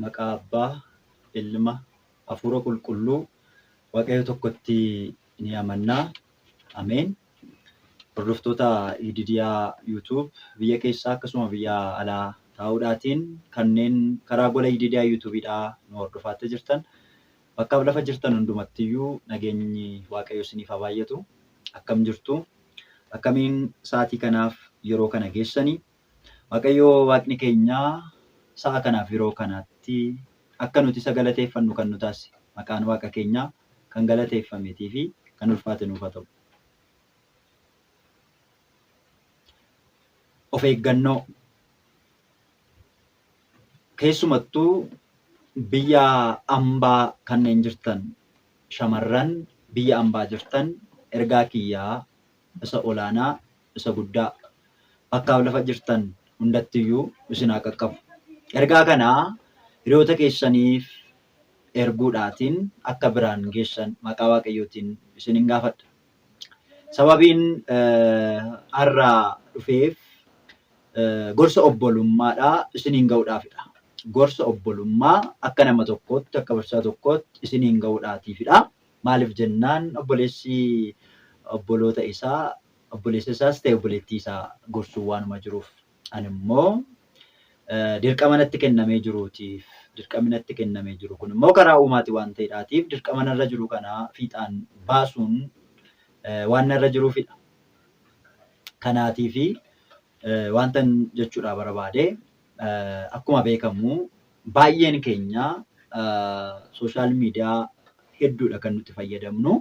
Maqaa Abbaa, Ilma, Hafuura Qulqulluu Waaqayyo tokkotti ni amanna. Ameen. Hordoftoota Yididiyaa YouTube biyya keessaa akkasuma biyya alaa taa'uudhaatiin kanneen karaa gola Yididiyaa YouTubeidhaa nu hordofaattee jirtan bakkaaf lafa jirtan hundumattiyyuu nageenyi Waaqayyo isiniif haa baay'atu. Akkam jirtu? Akkamiin sa'aatii kanaaf yeroo kana geessanii? Waaqayyo Waaqni keenya sa'a kanaa fi yeroo kanaatti akka nuti isa galateeffannu kan nu taasise maqaan Waaqa keenyaa kan galateeffameetii fi kan ulfaate nuuf haa ta'u. Of eeggannoo keessumattuu biyya ambaa kanneen jirtan shamarran biyya ambaa jirtan ergaa kiyyaa isa olaanaa isa guddaa bakkaaf lafa jirtan hundattiyyuu isin haa qaqqabu. Ergaa kana hiriyoota keessaniif erguudhaatiin akka biraan geessan maqaa Waaqayyootiin isinin gaafadha. Sababiin har'a dhufeef gorsa obbolummaadha isiniin ga'uudhaafidha. Gorsa obbolummaa akka nama tokkootti akka barsiisaa tokkootti isiniin ga'uudhaatiifidha. Maaliif jennaan obboleessi obboloota isaa Obboleessa isaas ta'e obboleettii isaa gorsuu waanuma jiruuf ani immoo dirqama natti kennamee jiruutiif dirqamni natti kennamee jiru kun immoo karaa uumaati waan ta'edhaatiif dirqama narra jiru kana fiixaan baasuun waan narra jiruufidha. Kanaatiifi wantan jechuudhaa barbaade akkuma beekamu baay'een keenya sooshaal miidiyaa hedduudha kan nuti fayyadamnu.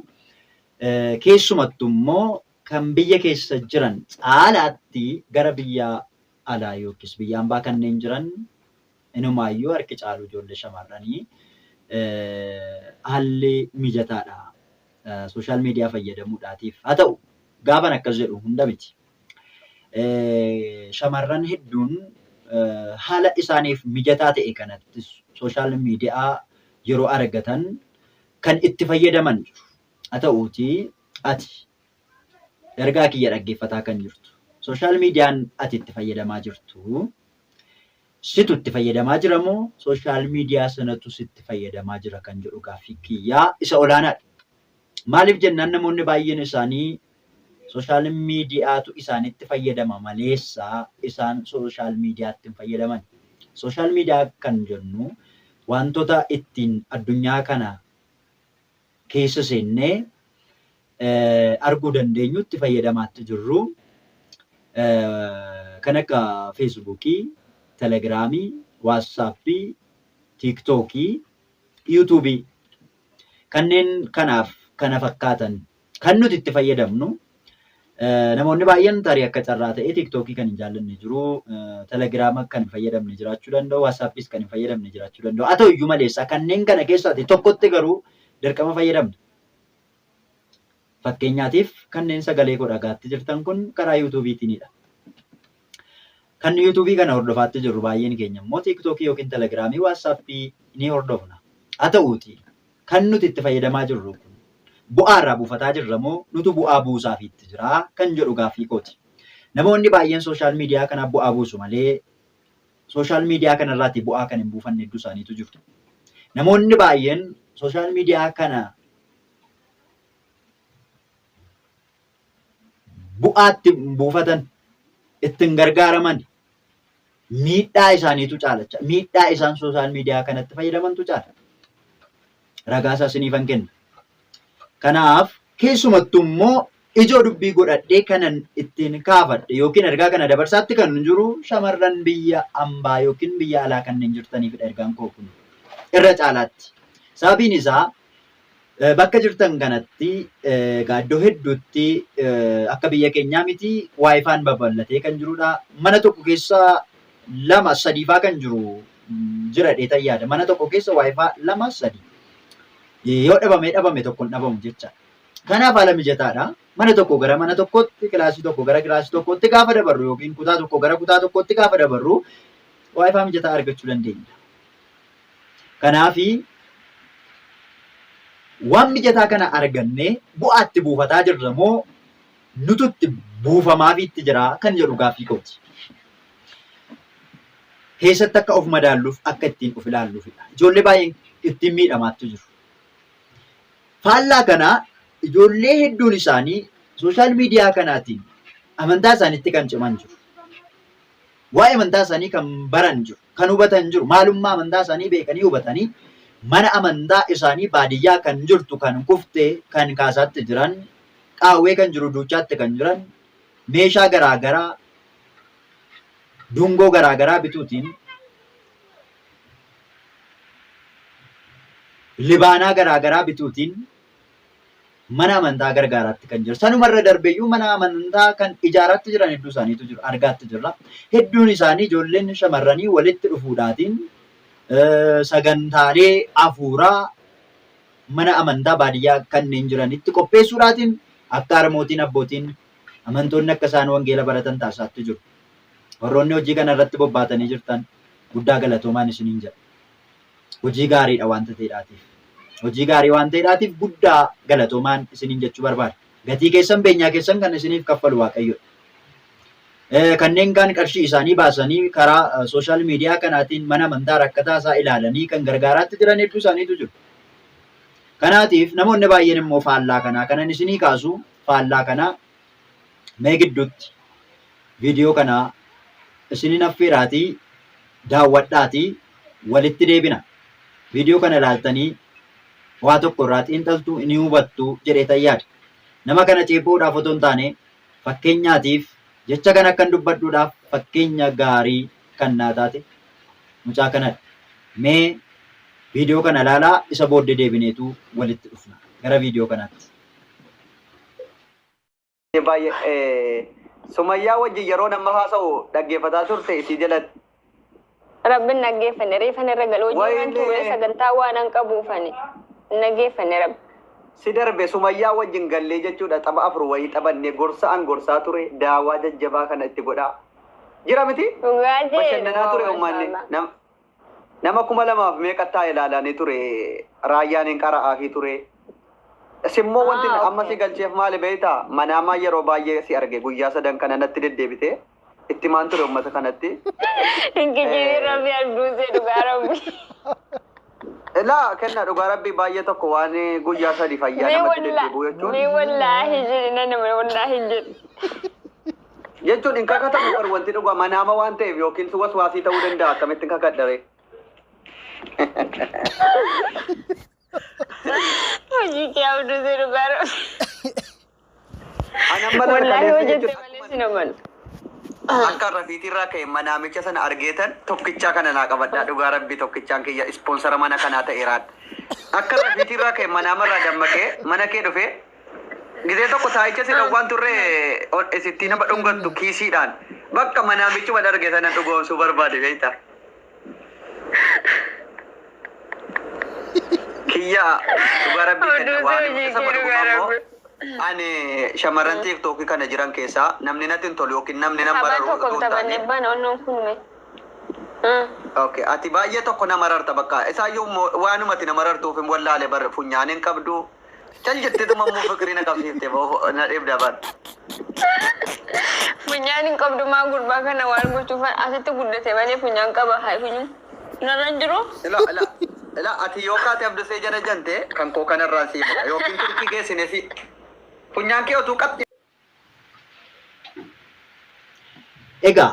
Keessumattu immoo kan biyya keessa jiran caalaatti gara biyya alaa yookiis biyya ambaa kanneen jiran inumaayyuu harki caalu ijoollee shamarranii haalli mijataadha social media fayyadamuudhaatiif. Haa ta'u gaafan akkas jedhu hunda miti. Shamarran hedduun haala isaaniif mijataa ta'e kanattis social media yeroo argatan kan itti fayyadaman jiru. Haa ta'uutii ati ergaa kiyya dhaggeeffataa kan jirtu sooshaal miidiyaan ati itti fayyadamaa jirtu situ itti fayyadamaa jira moo sooshaal miidiyaa sanatu sitti fayyadamaa jira kan jedhu gaaffii kiyyaa isa olaanaadha. Maaliif jennaan namoonni baay'een isaanii Social mediatu isaanitti fayyadama maleessa isaan social mediatti hin fayyadamani. Social media kan jennu waantota ittiin addunyaa kana keessa seennee arguu dandeenyu itti fayyadamaatti jirru kan akka Facebook, Telegram, WhatsApp, TikTok, YouTube kanneen kanaaf kana fakkaatan Kan nuti itti fayyadamnu namoonni baay'een tarii akka carraa ta'ee tiiktookii kan hin jaallanne jiru, telegiraama kan hin fayyadamne jiraachuu danda'u, waasaappiis kan hin fayyadamne jiraachuu danda'u. Haa ta'u iyyuu malee isaa kanneen kana keessaa ati tokkotti garuu dirqama fayyadamta. Fakkeenyaatiif kanneen sagalee koo dhagaatti jirtan kun karaa yuutuubiitiinidha. Kan YouTube kana hordofaatti jirru baay'een keenya immoo TikTok ykn Telegram, WhatsApp ni hordofna. Haa ta'uutii kan nuti itti fayyadamaa jirru kun bu'aa irraa buufataa jirra moo nutu bu'aa buusaafiitti jira kan jedhu gaaffii kooti. Namoonni baay'een social media kanaaf bu'aa buusu malee social media kana irraati bu'aa kan hin buufanne hedduu isaaniitu jiru. Namoonni baay'een social media kana bu'aa itti hin buufatan, itti hin gargaaraman, miidhaa isaaniitu caalacha. Miidhaa isaan sooshaal miidiyaa kanatti fayyadamantu caala. Ragaa isaa siniifan kenna. Kanaaf keessumattuu immoo ijoo dubbii godhadhee kanan ittiin kaafadhe yookiin ergaa kana dabarsaatti kan jiru shamarran biyya ambaa yookiin biyya alaa kanneen jirtaniifidha ergaan koo kun irra caalaatti. Sababiin isaa Bakka jirtan kanatti egaa iddoo hedduutti akka biyya keenyaa miti waayifaan babal'atee kan jirudha. Mana tokko keessa lama sadiifaa kan jiru jira dheetan yaada. Mana tokko keessa waayifaa lama sadi yoo dhabamee dhabame tokko hin dhabamu jechaadha. Kanaaf haala mijataadha. Mana tokko gara mana tokkootti, kilaasii tokko gara kilaasii tokkootti gaafa dabarru yookiin kutaa tokko gara kutaa tokkootti gaafa dabarru waayifaa mijataa argachuu dandeenya. Kanaafi waan mijataa kana argannee bu'aa itti buufataa jirra moo nutu itti buufamaafiitti jira kan jedhu gaaffii kooti. Keessatti akka of madaalluuf akka ittiin of ilaalluufidha. Ijoollee baay'een ittiin miidhamaattu jiru. Faallaa kanaa ijoollee hedduun isaanii sooshaal miidiyaa kanaatiin amantaa isaaniitti kan ciman jiru. Waa'ee amantaa isaanii kan baran jiru. kan hubatan hin jiru. Maalummaa amantaa isaanii beekanii hubatanii mana amantaa isaanii baadiyyaa kan jirtu kan kufte kan kaasaatti jiran qaawwee kan jiru duuchaatti kan jiran meeshaa garaagaraa dungoo garaagaraa bituutiin libaanaa garaagaraa bituutiin mana amantaa gargaaraatti kan jiru. Sanuma irra darbeeyyuu mana amantaa kan ijaaraatti jiran hedduu isaaniitu jiru. Argaatti jirra. Hedduun isaanii ijoolleen shamarranii walitti dhufuudhaatiin sagantaalee hafuuraa mana amantaa baadiyyaa kanneen jiranitti qopheessuudhaatiin akka harmootiin abbootiin amantoonni akka isaan wangeela baratan taasisaatti jiru. Warroonni hojii kana irratti bobbaatanii jirtan guddaa galatoomaan isiniin jedha. hojii gaariidha wanta ta'edhaatiif. Hojii gaarii waan ta'edhaatiif guddaa galatoomaan isiniin jechuu barbaada. Gatii keessan beenyaa keessan kan isiniif kaffalu Waaqayyodha. Eh, Kanneen kaan qarshii isaanii baasanii karaa eh, sooshaal miidiyaa kanaatiin mana amantaa rakkataa isaa ilaalanii kan gargaaraatti jiran hedduu isaaniitu jiru. Kanaatiif namoonni baay'een immoo faallaa kanaa kanan isinii kaasu faallaa kanaa mee gidduutti viidiyoo kanaa isinin affeeraatii daawwadhaatii walitti deebina. Viidiyoo kana ilaaltanii waa tokko irraa xiinxaltuu ni hubattu jedheetan yaada. Nama kana ceephuudhaaf otoo hin taane fakkeenyaatiif jecha kana akkan dubbadhuudhaaf fakkeenya gaarii kan naa taate mucaa kanadha. Mee viidiyoo kana ilaalaa isa booddee deebineetu walitti dhufna. Gara viidiyoo kanaatti. Sumayyaa wajjin yeroo nama haasa'u dhaggeeffataa turte isii jalatti. Rabbi hin dhaggeeffanne reefan irra gale hojii waan Wayne. turre sagantaa waan an qabuufani hin dhaggeeffanne rabbi. Si darbe sumayyaa wajjin gallee jechuudha tapha afur wayii taphannee gorsa an gorsaa ture daawaa jajjabaa kana itti godhaa. Jira miti? Dhugaa jee. Bashannanaa ture Waaw, ummanni. mashallah. Nam- Nama kuma lamaaf meeqattaa ilaalanii ture raayyaan hin qara'aafii ture. Simmoo wanti Ah, amma okay. si galcheef maali beektaa? Manaamaa yeroo baay'ee si arge guyyaa sadan kana natti deddeebite. Itti maan ture uummata kanatti. Hin kijibin rabbi abduusee dhugaa rabbi. Ilaa kenna dhugaa rabbii baay'ee tokko waan guyyaa sadi fayyaa Mee namatti wallaahi deddeebi'u jechuun. mee wallaahi jedhi nan wallaahi jedhi. jechuun hin kakatamu bar wanti dhugaa manaama waan ta'eef yookiin si waswaasii ta'uu danda'a akkamitti hin kakadhare. Hojii kee abduu si dhugaa dha. Ana mana Wallaahi kaleessa hojjette jechuun malee si naman. akka rafiitii irraa ka'e manaamicha sana argeetan tokkichaa kana naa qabadhaa dhugaa rabbii tokkichaan kiyya ispoonsara mana kanaa ta'eeraan. Akka rafiitii irraa ka'e manaama irraa dammaqee mana kee dhufee Gizee tokko taayicha si dhowwaan turre ol isittii nama dhungattu kiisiidhaan bakka manaa michuma dharge sana dhugoomsuu barbaade beekta. Kiyya dhugaa rabbii kenna Oduu waan hojii isa kee dhugaa godhuma ammoo rabbi. ani shamarran tiiktookii kana jiran keessaa namni natti hin tolu yookiin namni nan Tapha bararu tokko utuu hin taphanne taane. bana onnoon kun me. Okay, ati baay'ee tokko nama rarta bakka isaayyuu mo- waanumati nama rartuuf hin wallaale bar funyaan hin qabdu Cal jetteetuma immoo fiqirii na qabsiifte boo na dheebdaa baal. Funyaan hin qabdu maa gurbaa kana waal gochuufan asitti guddate malee funyaan qaba haa funyu narra hin jiru. Ila ila ila ati yoo kaate abdusee jana jante kan koo kanarraan siifadha yookiin turkii geessine si funyaan kee otuu qaxxi Egaa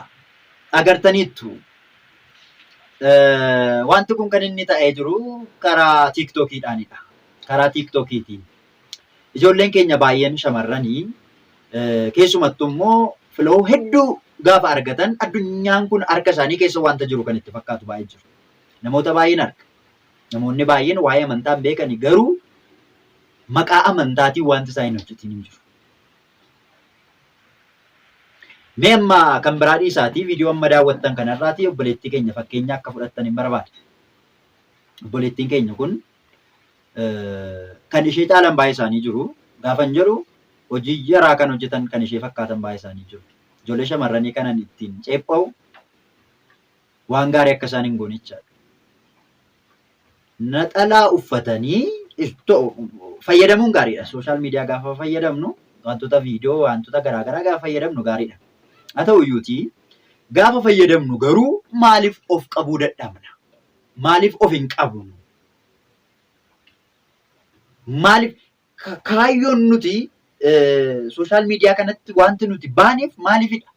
agartaniittu wanti kun kan inni ta'ee jiru karaa tiiktookiidhaanidha. Karaa tiiktookiitiin ijoolleen keenya baay'een shamarranii keessumattuu immoo filoo hedduu gaafa argatan addunyaan kun harka isaanii keessa wanta jiru kan itti fakkaatu baay'ee jiru. Namoota baay'een arga. Namoonni baay'een waa'ee amantaa hin beekani garuu maqaa amantaatiin wanti isaa hin hojjetiin hin jiru. Mee amma kan biraa dhiisaatii viidiyoo amma daawwattan kanarraatii obboleettii keenya fakkeenya akka fudhattan hin barbaada. Obboleettiin keenya kun kan ishee caalan baay'ee isaanii jiru. Gaafan jedhu hojii jaraa kan hojjetan kan ishee fakkaatan baay'ee isaanii jiru. Ijoollee shamarranii kanan ittiin ceepha'u waan gaarii akka isaan hin goone jechaadha. Naxalaa uffatanii fayyadamuun gaariidha. Sooshaal miidiyaa gaafa fayyadamnu wantoota viidiyoo wantoota garaagaraa gaafa fayyadamnu gaariidha. Haa ta'u iyyuutii gaafa fayyadamnu garuu maaliif of qabuu dadhabna? Maaliif of hin qabnu? Maaliif Kaayyoon nuti sooshaal miidiyaa kanatti wanti nuti baaneef maaliifidha?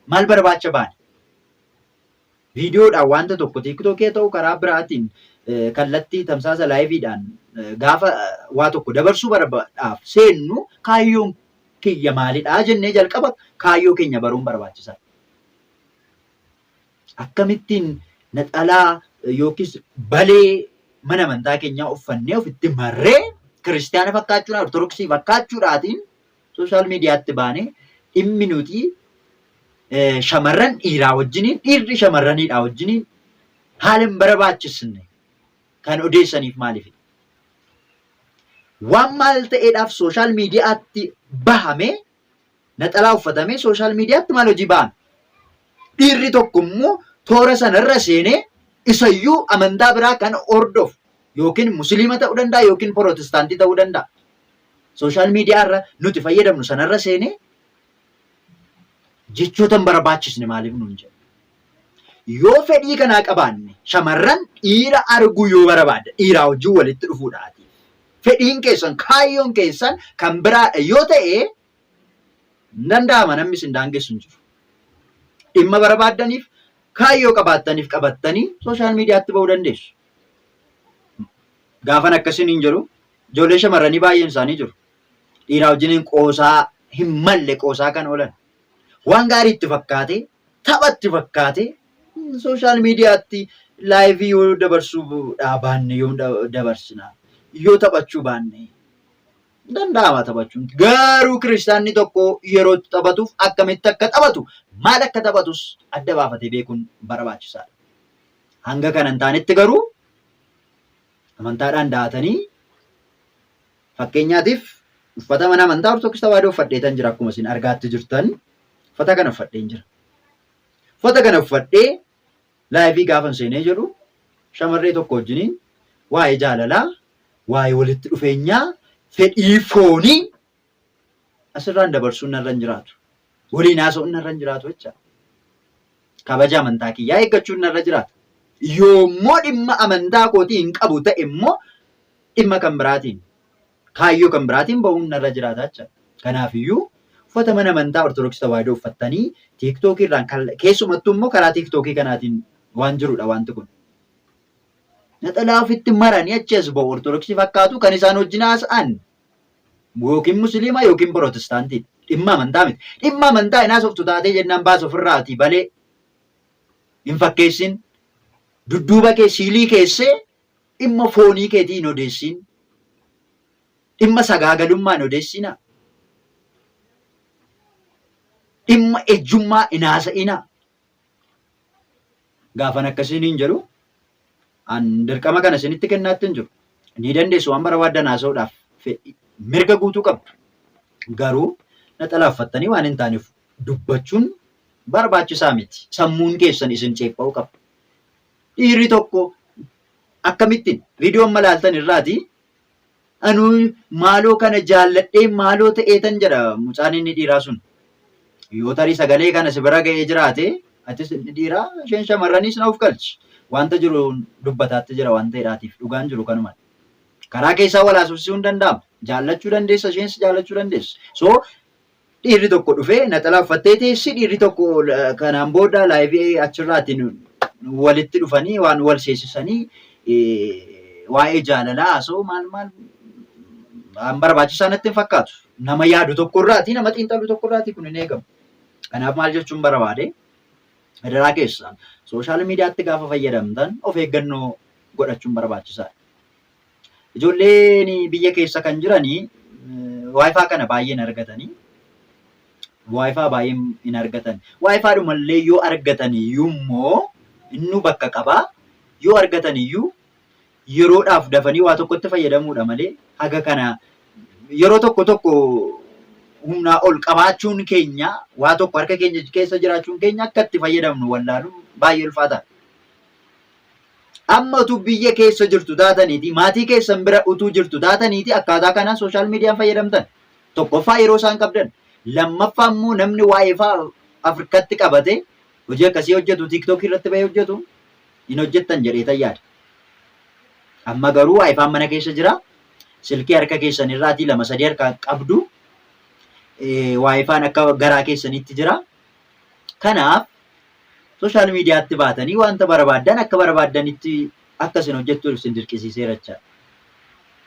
Maal barbaacha baane? Viidiyoodhaan wanta tokko tiiktookii ta'u karaa biraatiin kallattii tamsaasa laayiviidhaan gaafa waa tokko dabarsuu barbaadaaf seennu kaayyoon kiyya maalidha jennee jalqaba kaayyoo keenya baruun barbaachisaadha. Akkamittiin naxalaa yookiis balee mana amantaa keenyaa uffannee ofitti marree kiristiyaana fakkaachuudhaan, ortodoksii fakkaachuudhaatiin sooshaal miidiyaatti baanee dhimmi nuti shamarran dhiiraa wajjiniin, dhiirri shamarraniidhaa wajjiniin haala hin barbaachisne kan odeessaniif maaliif? Waan maal ta'eedhaaf sooshaal miidiyaatti bahamee Naxalaa uffatamee sooshaal miidiyaatti maal hojii ba'an? Dhiirri tokko immoo toora sanarra seenee isayyuu amantaa biraa kan hordofu yookiin musliima ta'uu danda'a yookiin pirootestaantii ta'uu danda'a. Sooshaal miidiyaa irra nuti fayyadamnu sanarra seenee jechoota hin barbaachisne maaliif nuun jedha? Yoo fedhii kanaa qabaanne shamarran dhiira arguu yoo barabaadda dhiiraa wajjin walitti dhufuudhaati. Fedhiin keessan kaayyoon keessan kan biraadha yoo ta'e hin danda'ama namni isin daangessu hin jiru. Dhimma barabaaddaniif kaayyoo qabaattaniif qabattanii sooshaal miidiyaatti ba'uu dandeessu. Gaafan akkasiin hin jedhu ijoollee shamarranii baay'een isaanii jiru. Dhiiraa wajjiniin qoosaa hin malle qoosaa kan oolan. Waan gaarii itti fakkaatee tapha itti fakkaate sooshaal miidiyaatti laayivii yoo dabarsuu baanne yoom dabarsina yoo taphachuu baanne danda'ama taphachuun garuu kiristaanni tokko yeroo itti taphatuuf akkamitti akka taphatu maal akka taphatus adda baafatee beekuun barbaachisaadha. Hanga kana hin taanetti garuu amantaadhaan daatanii Fakkeenyaatiif uffata mana amantaa Ortodoks Tawaahidoo uffadheetan jira akkuma isin argaatti jirtan uffata kana uffadheen jira. Uffata kana uffadhee laayivii gaafan seenee jedhu shamarree tokko wajjiniin waa'ee jaalalaa, waa'ee walitti dhufeenyaa, fedhii foonii Asirraan dabarsuun narra hin jiraatu. Waliin haasa'uun narra hin jiraatu jecha. Kabaja amantaa kiyyaa eeggachuun narra jiraata. Yoommoo dhimma amantaa kootii hin qabu ta'e immoo dhimma kan biraatiin kaayyoo kan biraatiin ba'uun narra jiraata jecha. Kanaafiyyuu uffata mana amantaa Ortodoksii Tawaahidoo uffattanii tiiktookii irraan keessumattuu immoo karaa tiiktookii kanaatiin waan jirudha wanti kun. Naxalaa ofitti maranii achi as ba'u Ortodoksii fakkaatu kan isaan wajjin haasa'an Yookiin musiliima yookiin pirootestaantiidha. Dhimma amantaa miti. Dhimma amantaa hin haasoftu taatee jennaan baas ofirraati balee hin fakkeessin. Dudduuba kee siilii keessee dhimma foonii keetii hin odeessiin. Dhimma sagaagalummaa hin odeessiinaa. Dhimma ejjummaa hin haasa'inaa. Gaafan akka isiniin jedhu an dirqama kana isinitti kennaatti hin jiru. Ni dandeessu waan barbaaddan haasa'uudhaaf fedhii mirga guutuu qabdu. Garuu naxalaaffattanii waan hin taaneef dubbachuun barbaachisaa miti. Sammuun keessan isin ceepha'uu qaba. Dhiirri tokko akkamittiin viidiyoo amma ilaaltan irraati Anuu maaloo kana jaalladhee maaloo ta'eetan jedha mucaan inni dhiiraa sun. Yoo tarii sagalee kana si bira ga'ee jiraate atis inni dhiiraa isheen shamarraniis na of galchi. Wanta jiru dubbataatti jira waan ta'eedhaatiif dhugaan jiru kanuma. Karaa keessaa wal haasofsiisuun danda'ama. Jaallachuu dandeessa isheenis jaallachuu dandeessa. So Dhiirri tokko dhufee naxalaa uffattee teessi dhiirri tokko kanaan booda laayivii achirraatiin walitti dhufanii waan wal seesisanii waa'ee jaalalaa haasoo maal maal waan barbaachisaa natti hin fakkaatu. Nama yaadu tokko irraati nama xiinxalu tokko irraati kun hin eegamu. Kanaaf maal jechuun barbaade adaraa keessaan sooshaal miidiyaatti gaafa fayyadamtan of eeggannoo godhachuun barbaachisaadha. Ijoolleen biyya keessa kan jiran waayifaa kana baay'een argatanii waayifaa baay'een hin argatan. Waayifaa dhumallee yoo argatan iyyuu immoo innu bakka qaba. Yoo argatan iyyuu yeroodhaaf dafanii waa tokkotti fayyadamuudha malee haga kana yeroo tokko tokko humnaa ol qabaachuun keenya waa tokko harka keenya keessa jiraachuun keenya akka itti fayyadamnu wallaaluun baay'ee ulfaataadha. Amma utuu biyya keessa jirtu taataniiti maatii keessan bira utuu jirtu taataniiti akkaataa kanaan sooshaal miidiyaan fayyadamtan. Tokkoffaa yeroo isaan qabdan. Lammaffaa immoo namni waa'ee fa'aa Afrikatti qabate hojii akkasii hojjetu tiiktookii irratti bahee hojjetu hin hojjettan jedheetan yaada. Amma garuu waayifaan mana keessa jira. Silkii harka keessan irraatii lama sadii harkaan qabdu. Waayifaan akka garaa keessanitti jira. Kanaaf social mediatti baatanii wanta barabaaddan akka barabaaddanitti akka isin hojjettuuf isin dirqisiiseera jechaadha.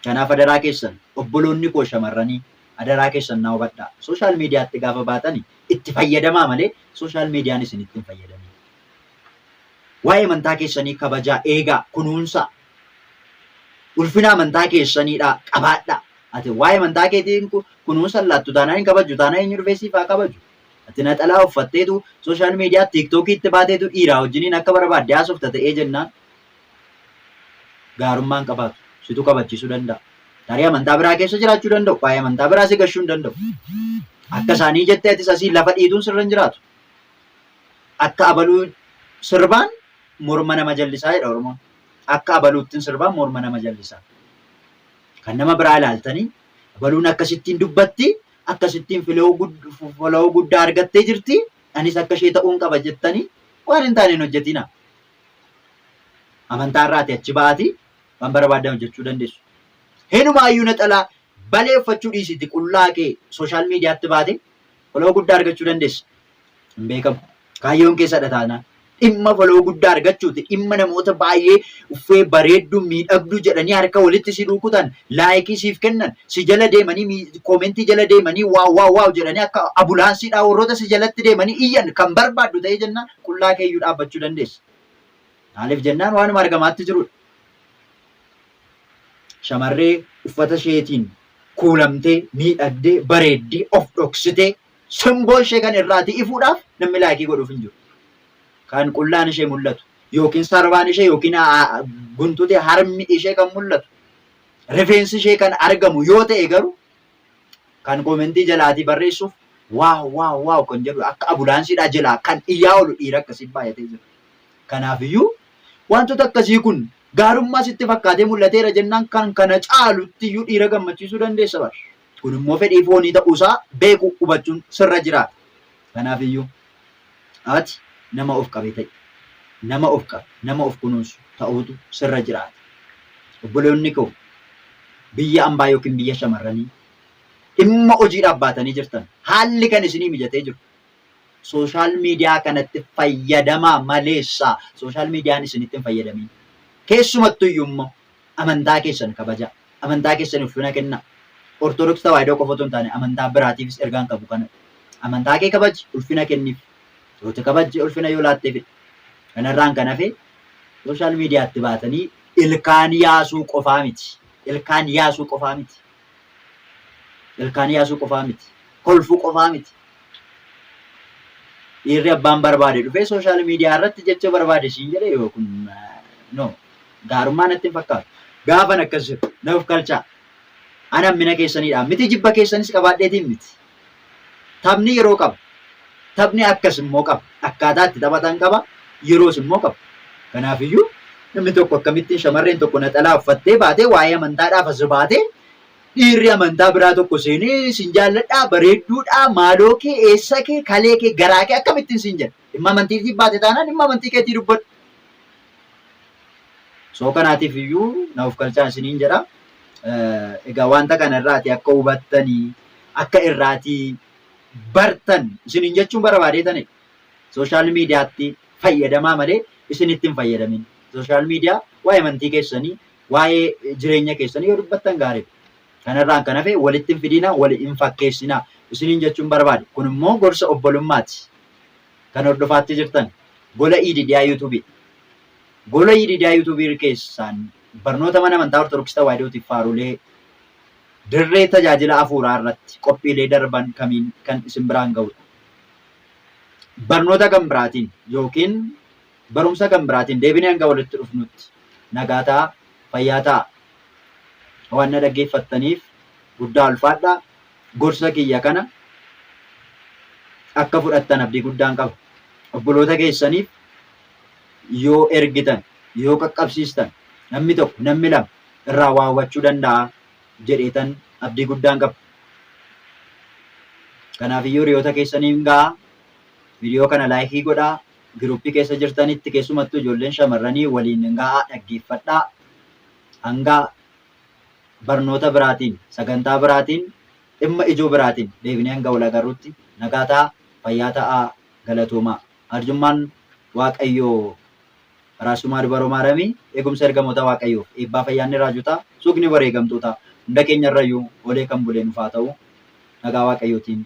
Kanaaf adaraa keessan obboloonni koo shamarranii adaraa keessan naa hubadhaa. Social mediatti gaafa baatani itti fayyadamaa malee social median isinitti hin fayyadamin. Waa'ee amantaa keessanii kabajaa, eegaa, kunuunsaa. Ulfina amantaa keessaniidha qabaadhaa. Ati waa'ee amantaa keetii kunuunsa hin laattu taanaan hin kabajju taanaan eenyu dhufee siif haa kabaju? Ati naxalaa uffatteetu social media tiktok itti baateetu dhiiraa wajjiniin akka barbaadde haasofta ta'ee jennaan gaarummaa hin qabaatu. Situ kabachiisuu danda'a. Tarii amantaa biraa keessa jiraachuu danda'u. Waa'ee amantaa biraa si gashuu hin danda'u. Akka isaanii jettee atis asii lafa dhiituun sirra hin jiraatu. Akka abaluu sirbaan morma nama jallisaa jedha Oromoon. Akka abaluuttiin sirbaan morma nama jallisaa. Kan nama biraa ilaaltanii abaluun akkasittiin dubbatti akkasittiin follow guddaa argattee jirti anis akka ishee ta'uun qaba jettanii waan hin taane hin hojjetinaa. Amantaa irraati achi ba'aati waan barbaadan hojjechuu dandeessu. Hinumaayyuu naxalaa balee uffachuu dhiisiti qullaa kee sooshaal miidiyaatti baate follow guddaa argachuu dandeessa. hin beekamu. Kaayyoon keessadha taanaan dhimma foloo guddaa argachuuti. Dhimma namoota baay'ee uffee bareedduu miidhagduu jedhanii harka walitti si rukutan laayikii siif kennan si jala deemanii koomentii jala deemanii waaw waaw waaw jedhanii akka abulaansiidhaa warroota si jalatti deemanii iyyan kan barbaaddu ta'ee jennaan qullaa keeyyuu dhaabbachuu dandeessa. Maaliif jennaan waanuma argamaatti jirudha. Shamarree uffata isheetiin kuulamtee miidhagdee bareeddii of dhoksitee Simboo ishee kan irraati ifuudhaaf namni laayikii godhuuf hin jiru. Kan qullaan ishee mul'atu yookiin sarbaan ishee yookiin guntuti harmi ishee kan mul'atu rifeensi ishee kan argamu yoo ta'e garuu kan koomentii jalaatii barreessuuf waaw waaw waaw kan jedhu akka abulaansiidhaa jalaa kan iyyaa oolu dhiira akkasii baay'atee jira. Kanaafiyyuu wantoota akkasii kun gaarummaa sitti fakkaatee mul'ateera jennaan kan kana caalutti iyyuu dhiira gammachiisuu dandeessa bara. Kun immoo fedhii foonii ta'uusaa beekuu, hubachuun sirra jiraata. Kanaaf iyyuu ati nama of qabe ta'i. Nama of qabe, nama of kunuunsu ta'uutu sirra jiraata. Obboloonni koo biyya ambaa yookiin biyya shamarranii dhimma hojiidhaaf baatanii jirtan haalli kan isinii mijatee jiru sooshaal miidiyaa kanatti fayyadamaa maleessaa sooshaal miidiyaan isinitti hin fayyadamiin. Keessumattu iyyuu immoo Amantaa keessan kabajaa. Amantaa keessaniif ulfina kennaa. Ortodoks Tawaahidoo qofa otoo hin taane amantaa biraatiifis ergaan qabu kanadha. Amantaa kee kabaji, ulfina kenniif. Yoo itti kabajje ulfina yoo laatteefidha. Kanarraan kan hafe sooshaal miidiyaatti baatanii ilkaan yaasuu qofaa miti. Ilkaan yaasuu qofaa miti. Ilkaan yaasuu qofaa miti. Kolfuu qofaa miti. Dhiirri abbaan barbaade dhufee sooshaal miidiyaa irratti jecha barbaade siin jedhe yoo kun no gaarummaa natti hin fakkaatu. Gaafan akkas jedhu na of kalchaa. Ana hammina keessaniidha. Miti jibba keessanis qabaadheetiin miti. Taphni yeroo qaba. Taphni akkas immoo qaba. Akkaataa itti taphatan qaba, yeroos immoo qaba. Kanaaf iyyuu namni tokko akkamittiin shamarreen tokko naxalaa uffattee baatee waa'ee amantaadhaaf as baatee dhiirri amantaa biraa tokko seenee sin jaalladhaa bareedduudhaa maaloo kee eessa kee kalee kee garaa kee akkamittiin sin jedha dhimma amantiitiif baate taanaan dhimma amantii keetii dubbadhu Soo kanaatiif iyyuu na of kalchaa isiniin jedha. Egaa wanta kana irraati akka hubattanii akka irraatii bartan isiniin jechuun barbaadee tane sooshaal miidiyaatti fayyadamaa malee isinitti hin fayyadamin. Sooshaal miidiyaa waa'ee amantii keessanii waa'ee jireenya keessanii yoo dubbattan gaariidha. Kanarraan kan hafe walitti hin fidinaa, wal hin fakkeessinaa isiniin jechuun barbaade. Kun immoo gorsa obbolummaati. Kan hordofaatti jirtan gola Yididiyaa YouTube dha. Gola Yididiyaa YouTube keessaan barnoota mana amantaa Ortodoksii Tawaahidootiif faarulee dirree tajaajila afuuraa irratti qophiilee darban kamiin kan isin biraan ga'udha. Barnoota kan biraatiin yookiin Barumsa kan biraatiin deebinee hanga walitti dhufnutti nagaa ta'aa, fayyaa ta'aa. Waan na dhaggeeffattaniif guddaa ulfaadhaa. Gorsa kiyya kana akka fudhattan abdii guddaan qaba. Obboloota keessaniif yoo ergitan, yoo qaqqabsiistan namni tokko, namni lama irraa waa hubachuu danda'a jedheetan abdii guddaan qaba. Kanaafiyyuu hiriyoota keessaniin ga'aa. Viidiyoo kana laayikii godhaa, Giruuppii keessa jirtanitti keessumattuu ijoolleen shamarranii waliin ga'aa dhaggeeffadhaa. Hanga barnoota biraatiin, sagantaa biraatiin, dhimma ijoo biraatiin deebinee hanga wal agarrutti nagaa ta'aa, fayyaa ta'aa, galatoomaa. Arjummaan Waaqayyoo Araarsumaa Dubaroo Maaramii, eegumsa ergamoota Waaqayyoof, eebbaa fayyaanni raajotaa, suugni wareegamtootaa hunda keenyarrayyuu oolee kan bule nuuf haa ta'u. Nagaa Waaqayyootiin